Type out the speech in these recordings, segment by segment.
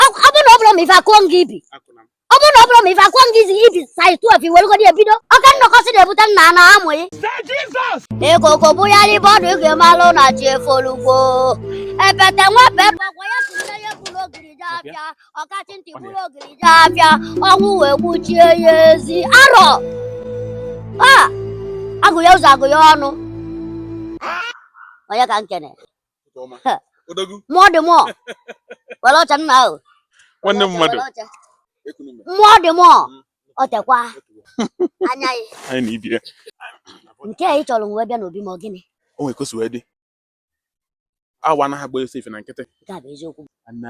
ọ bụrụ na ọ bụrụ ma ife akụọ nga ibi ọ bụrụ na ọ bụrụ ma ife akụọ nga izi ibi saiz 12 iwerugodi ebido ọka nnọkọsị na-ebute nna na amụghị ikoko bụgharị ibe ọdụ ị ga-amalụ na chi efolugo epete nwepe gbagwa ya tụnye ya buru ogiri je afịa ọkachị ntị buru ogiri je afịa ọnwụ wee gbuchie ya ezi arọ a agụ ya ụzọ agụ ya ọnụ onye ka nkene mmụọ dị mmụọ were oche nna ahụ nwanne mmadụ mmụọ dị mmụọ mm. o tekwa anya gị nke a ị chọrọ wee bịa n'obi m ọ gịnị o nwere ka o si wee dị awọ anaghị agba ọsọ ife na nkịtị nke a bụ eziokwu na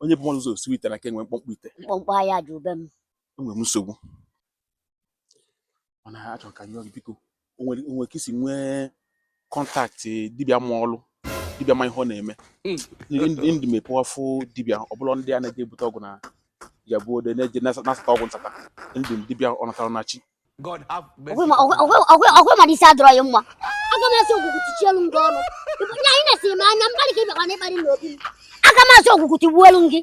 onye bu mmadụ ụzọ esi ite na-aka enwe mkpọmkpọ ite mkpọmkpọ ọ ya ju be m enwere m nsogbu mana achọrọ ka m yọọ gị biko o nwere o nwere ka i si nwee kọntaktị dibịa ma ọlụ dibịa ma ihe ọ na-eme ndị mepewa fụ dibịa ọbụla ndị a na-eje ebute ọgwụ na Ijebu Ode na-eje nasa- nasata ọgwụ nsata ndị dibịa ọ natara na chi God have mercy. ọgwụ ma- ọgwụ- ọgwụ- ọgwụ- ọgwụ mara isi adịrọ ya mma aga m asị ogwugwu tichielu gị ọnụ nya anyị na-esiri m anya mkparị ka ị bịakwa na ịkparị n'obi m aga m asị ogwugwu tigbuelu gị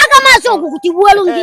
aga m asị ogwugwu tigbuelu gị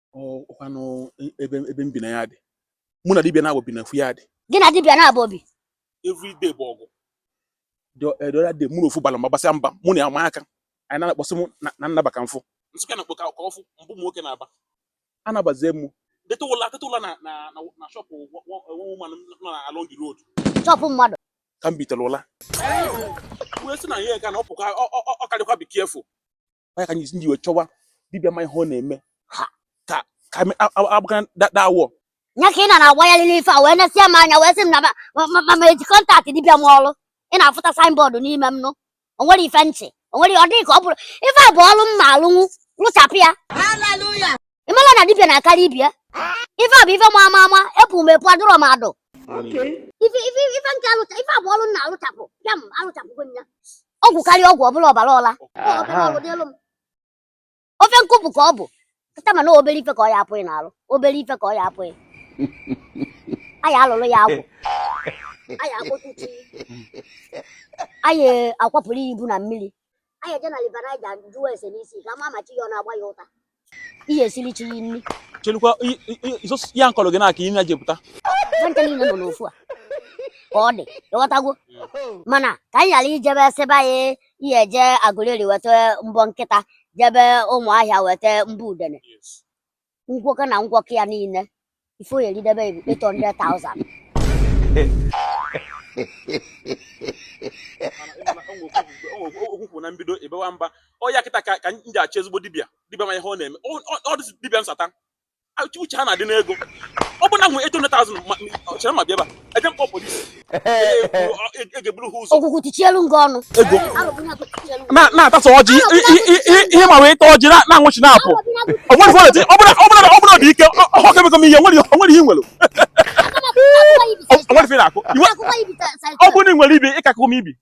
ọ kwanụ ebe ebe m bi na yard mụ na dibịa naabọ bi na ofu yard gị na dibịa naabọ bi everyday bụ ọgụ the eh, the other day mụ na ofu bala mba basịa mba mụ na ya ma aka anyị na-akpọsị mụ na- na m naba ka m fụ nsụka na kpọka ka ọ fụ ma abụ m nwoke naba anabazie mụ teta ụla teta ụla na na na na shọpụ woman nọ na along the road shọpụ mmadụ ka m bitere ụla wee sị na ihe ga na ọ pụkwa ọ- ọ- ọ- ọ karịkwa be careful ọ ya ka m ji wee chọwa dibịa ma ihe ọ na-eme ha ka ka abụga dawọ nya ka ị na na-agwa ya lili ife a wee nesie m anya wee sị m na ma m eji kọntaktị dibịa ma ọrụ ị na-afụta saịnbọọdụ n'ime m nụ o nwere ife ntị o nwere ọ dịghị ka ọ bụrụ ife a bụ ọrụ m ma alụnwu lụchapụ ya ị mara na dibịa na-akarị ibe ya ife a bụ ife m ma ama epu m epu adụrọ m adụ ife ife ife nke alụcha ife a bụ ọrụ m na-alụchapụ pịam alụchapụgo m ya ọgwụ karịa ọgwụ ọbụla ọbara ọla ọ ọbara ọrụ n'elu m ofe nkụpụ ka ọ bụ kịta mana obere ife ka ọ ya-apụ gị n'alụ obere ife ka ọ ya-apụ gị anyị alụrụ ya agwụ anyị akpọtụ chi anyị akwapụrụ ya ibu na mmiri anyị eje na River Niger jụọ ese n'isi ka a ma ma chi ya ọ na-agba ya ụta ị ya-esiri chi ya nri chelukwa ya m kọrọ gị na-aka ime ya jepụta nwancha niile nọ n'ofu a ka ọ dị ị ghọtago mana ka anyị ghara ijebe sịbe anyị ya-eje Agụleri weta mbọ nkịta jebe Ụmụahịa weta mbọ udene ngwọkọ na ngwọkọ ya niile ife ọ ya-eridebe bụ 800,000 okwukwu na mbido ebewa mba ọya kịta ka ka m ji achọ ezigbo dibịa dibịa ma ihe ọ na-eme Ọ- ọ- ọ dịzi dibịa nsata uche ha na-adị n'ego ọ bụ na m nwe 800,000 ma- ma- chere ma bịa ebe a eje m kpọ polisi Ogwugwu tichielu gị ọnụ na-atasa ọjị ihe ma wee ta ọjị na-anwụchi na-apụ ọ bụ na ọ dị ike ọhụrụ kemekọ m ihe o nwere ihe i nwere ọ bụrụ na ị nwere ibi ịkakọ m ibi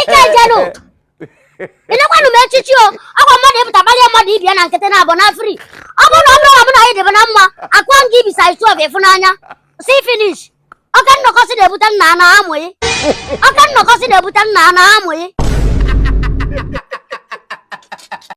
ike ejenụ nekwanụ m echichi o ọkwa mmadụ ịpụta gbalịa mmadụ dibịa na nkịtị na-abụ na free ọ bụrụ na ọ bụrụ na mụ na gị dịbụ na mma akwa m gị ibisa isu ọbụ ịfụnanya see finish oke nnọkọ si na-ebute nna a na amụghị oke nnọkọ si na-ebute nna a na amụghị